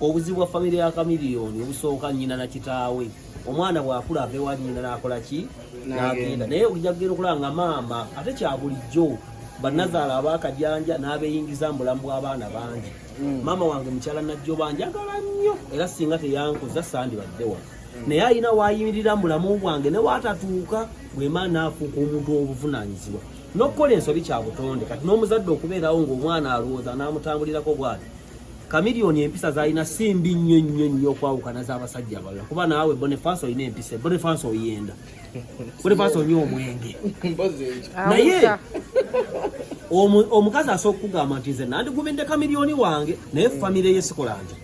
Obuzibu bwa famire ya Chameleone obusooka nnyina na kitaawe. Omwana bw'akula ava ewa nnyina n'akola ki? N'agenda. Naye ojja kugenda okulaba nga maama ate kya bulijjo bannazaala abaakajanja n'abeeyingiza mu bulamu bw'abaana bangi. Mm. Maama wange mukyala Najjoba njagala nnyo era singa teyankuza sandibadde wano. Mm. Naye alina waayimirira mu bulamu bwange ne waatatuuka bwema n'afuuka omuntu obuvunaanyizibwa. N'okukola ensobi kya butonde kati n'omuzadde okubeerawo ng'omwana alowooza n'amutambulirako bw'ati. Kamilioni empisa zalina si mbi nnyo nnyo nnyo okwawukana z'abasajja abalala kuba naawe Boniface olina empisa Boniface oyenda Boniface onywa omwenge naye omukazi asooka okugamba nti nze nandigumidde kamilioni wange naye famire ye sikolange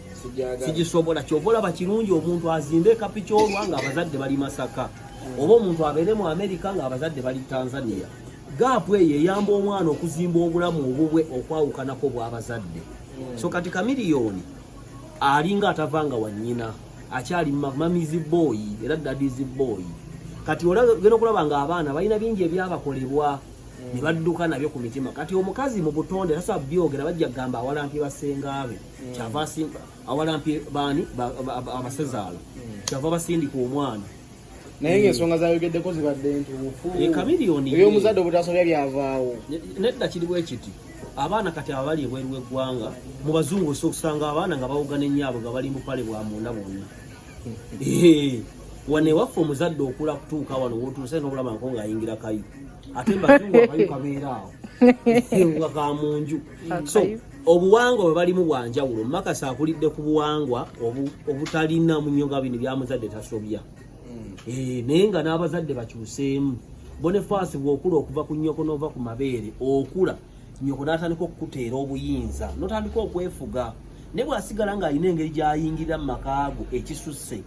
sigisobola kyova olaba kirungi omuntu azimbe ekapikyolwa nga abazadde bali masaka oba omuntu abeere mu amerika nga abazadde bali tanzania gaapu eyo eyamba omwana okuzimba obulamu obubwe okwawukanako bw'abazadde so kati kamiliyoni alinga atavanga wa nnyina akyali mamizi booyi era dadizi booyi kati olagenda okulaba nga abaana balina bingi ebyabakolebwa ne badduka nabyo ku mitima kati omukazi mu butonde tasa byogera bajja kugamba awalampi basengaabe mm. kyava awalampi baani abasezaala mm. kyava basindika omwana naye ng'ensonga zayogeddeko zibadde ntuufu ey'omuzadde obutasobya byavaawo nedda kiri bwe kiti abaana kati abali ebweru w'eggwanga mu bazungu osa okusanga abaana nga bawugana ennyaabwe nga bali mupale bwa munda bwonna wano ewaffe omuzadde okula kutuuka wano wotuuse nobulamako ngaayingira kayi ate mbazungu akayu kabeera awo nga ka munju so obuwangwa bwe balimu bwa njawulo makasi akulidde ku buwangwa obutalina munyo nga bino byamuzadde tasobya hmm. eh, naye nga n'abazadde bakyuseemu bonefaasi bw'okula okuva ku nnyoko n'ova ku mabeere okula nnyoko n'atandika okukuteera obuyinza n'otandika okwefuga naye bw'asigala ng'alina engeri gy'ayingirira mu makaago ekisusse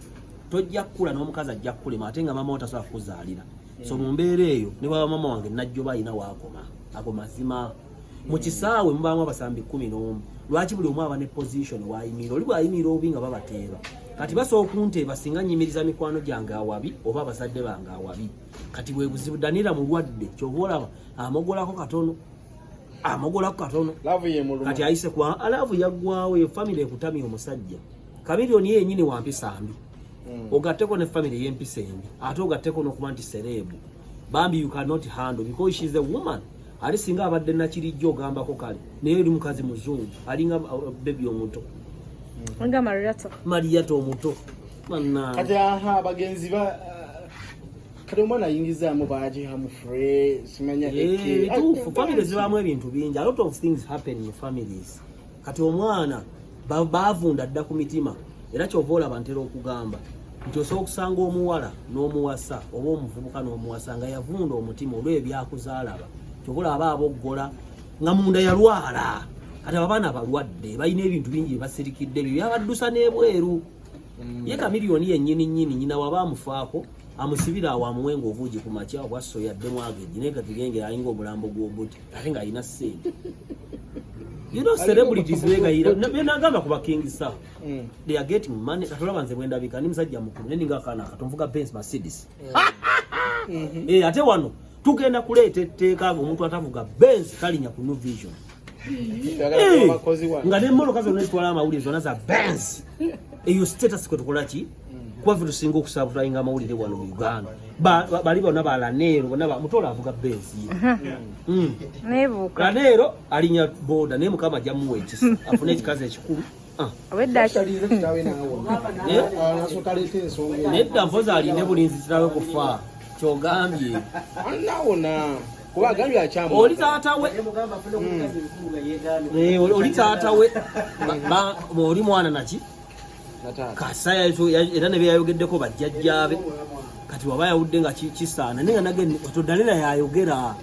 tojja kukula n'omukazi ajja kukulema ate nga maama wo tasobola kukuzaalira so hmm. mu mbeera eyo ne baba maama wange najjoba alina waakoma ago mazima mu kisaawe mubaamu abasambi kumi n'omu lwaki buli omu aba ne position waayimiira oli bwayimiira obubi nga babateeba kati basobola okunteeba singa nyimiriza mikwano gyange awabi oba abazadde bange awabi kati bwe buzibu danira mulwadde kyova olaba amogolako katono amogolako katono kati ayise kwa alavu yaggwawo eyo famire ekutamya omusajja kamilioni yenyini wampisa mbi mm. ogatteko ne famire yempisa embi ate ogatteko n'okuba nti sereebu bambi you cannot handle because she is a woman ali singa abadde nakirijja ogambako kale naye oli mukazi muzungu alinga uh, bebi omuto mariyato omuto kati aha bagenzi ba uh, kati omwana ayingizaamu bagihamufure simanya eh, bituufu famire zibaamu ebintu bingi a lot of things happen in families kati omwana baavunda dda ku mitima era kyova olaba ntera okugamba nti osobola okusanga omuwala n'omuwasa oba omuvubuka n'omuwasa nga yavunda omutima olw'ebyakuzaalaba kyova olaba aboggola nga munda yalwala kati ababaana balwadde balina ebintu bingi byebasirikidde byo byabaddusa n'ebweru mm. ye kamiliyoni yennyini nnyini nyina waba amufaako amusibira awo amuwe ngaobuugi ku makya obwa soya ddemu ageji naye kati genge alinga omulambo gw'obuti ate nga alina sente you know celebrities begayira benagamba kuba king sa mm. they are getting money katolaba nze bwendabika ni musajja mukulu ne ninga kana katonvuga benz mercedes mm. mm-hmm. eh ate wano tugenda kuleeta etteeka nga omuntu atavuga benz talinya ku new vision eh, nga nemmotoka zonna ezitwala amawulire zonna za benz eyo status kwetukolaki kuba ffe tusinga okusabutayinga amawulire wano mu uganda bali bona balaneero bona mutola avuga bensi ye hmm. Hmm. laneero alinya boda naye mukama ajja muwa ekisa afune ekikazi ekikulu ah. nedda mpozi aline bulinzi kirawe kufa kyogambye oli taata we hmm. eh, oli taata we oli mwana naki kasaya era ne byeyayogeddeko bajjajjaabe kati waba yawudde nga kisaana naye nga nage oto danira yayogera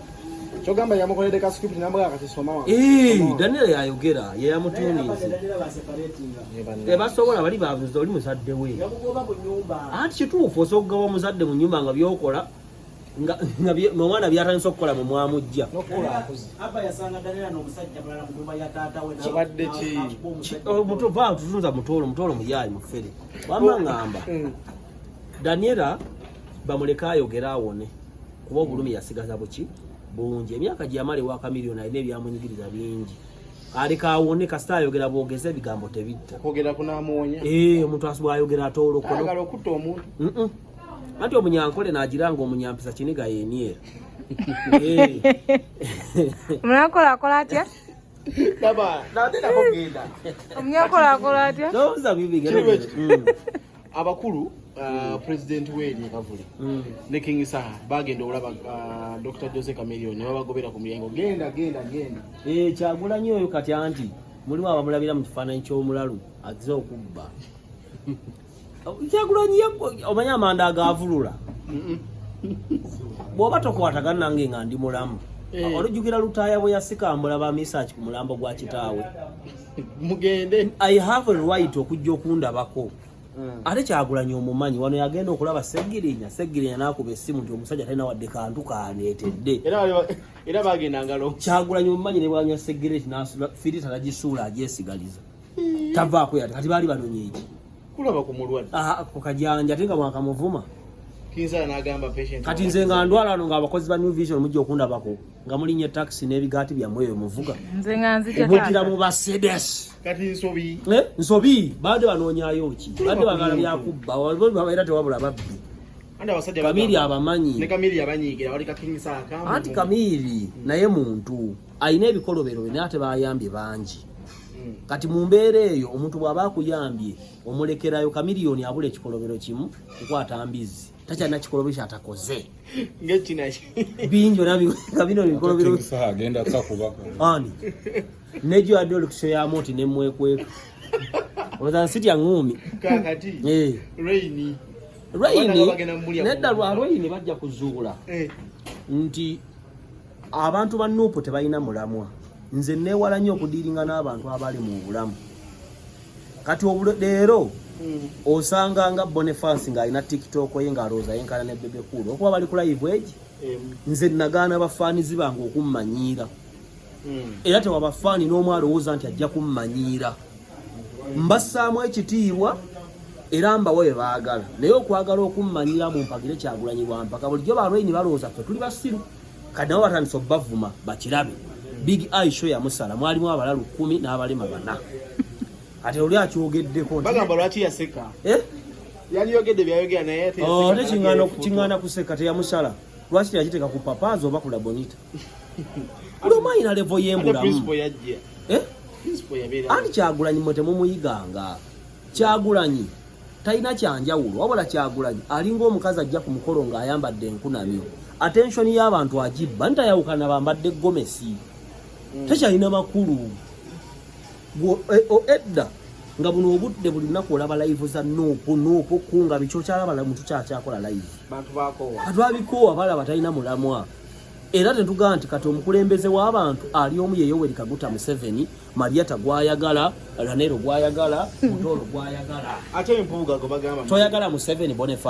kyogamba yamukoledde ka script namugamba kati soma wa eh danira yayogera ye yamutuunize tebasobola bali babuza oli muzadde we anti kituufu osobola okugaba omuzadde mu nyumba nga byokola nga nga mwana byatandise okukola mu mwamujja tutunza mutoolo mutoolo muyaayi mufere wama ngamba hmm. daniela bamuleke ayogere awone kuba obulumi yasigaza buki bungi emyaka gyeyamala ewa kamiliyoni alina ebyamunyigiriza bingi aleka awone kasita ayogera bwogeza ebigambo tebitta eh, omuntu asibwa ayogera atoolokona anti omunyankole nagiranga omunyampisa kiniga yeniera omunyankole akola atya omunyankole akola atya mm. abakulu Uh, president weri kavuli mm. ne king saha bagenda olaba uh, dr jose camelion nebabagobera ku mulyango genda genda genda eh, kyagulanyi oyo kati anti mulimu abamulabira mu kifaananyi ky'omulalu aze okubba kyagulanyi omanyi amanda agavulula bwoba tokwatagana nange nga ndi mulamu eh. olujjukira lutaaya bwe yasikambula ba misaki ku mulambo gwa kitaawe mugende i have a right okujja okundabako hmm. ate kyagulanyi omumanyi wano yagenda okulaba segirinya segirinya nakuba esimu nti omusajja talina wadde kantu kaneetedde era bagendangalo kyagulanyi omumanyi ne bwanywa segireti firita nagisuula agyesigaliza hmm. tavaako yati kati baali banonya eki kulaba ku mulwadde ah, ku kajanja ate nga mwakamuvuma kati nze nga ndwala ano ngaabakozi ba new vision mujja okundabako nga mulinya etakisi n'ebigaati byammwe eyo muvuga mutira mu basedes eh, nsobi baadde banoonyayo ki baadde bagala byakubba era tewabula babbi kamiri abamanyi anti kamiri naye muntu alina ebikolobero bye naye ate bayambye bangi hmm. kati mu mbeera eyo omuntu bw'aba akuyambye omulekerayo kamiliyoni abula ekikolobero kimu kukwata mbizzi takyalina kikolobero kyatakoze bingi olabikabino bikolobero ani nejo adde olukiso yamu nti nemwekweka oza nsitya ngumi eh. rayini nedda lwa rayini bajja kuzuula eh. nti abantu ba nuupu tebalina mulamwa nze neewala nnyo okudiiringa n'abantu abali mu bulamu kati leero hmm. osanga nga bonifas ng'alina tiktok ye ng'alowooza yenkana ne bebe kuulu okuba bali ku live egi nze nagaana bafaanizi bange okummanyiira hmm. era tewabafaani n'omu alowooza nti ajja kummanyiira mbassaamu ekitiibwa era mbawe bye baagala naye okwagala okummanyiira mu mpagire kyagulanyi bwampaka bulijjo balwaini balowooza ffe tuli basiru kati nabo batandise okubavuma bakirabe big eye show yamusala mwalimu abala lukumi n'abalema bana ate oli akyogeddeko bagamba lwaki yaseka eh? yaliyogedde byayogera naye oh, ate kingana kuseka teyamusala lwaki teyakiteeka ku papazi oba ku labonita buli omu ayina levo yembulamu eh? anti kyagulanyi mwe temumuyiganga Kyagulanyi talina kyanjawulo wabula Kyagulanyi alinga omukazi ajja ku mukolo ng'ayambadde enkunamyo. Atenshoni y'abantu agibba ntayawukana bambadde gomesi hmm. tekyalina makulu e, edda nga buno obudde buli lunaku olaba layivu za nuupu nuupu kunga bikyokyalaba muntu kyakyakola layivu atwabikoowa balaba talina mulamwa era tetugamba nti kati omukulembeze w'abantu ali omu yeyowerikaguta museveni Mariata gwayagala, Ranero gwayagala, Mutoro gwayagala. Ate mpuuga gwe bagamba. Toyagala Museveni Boniface.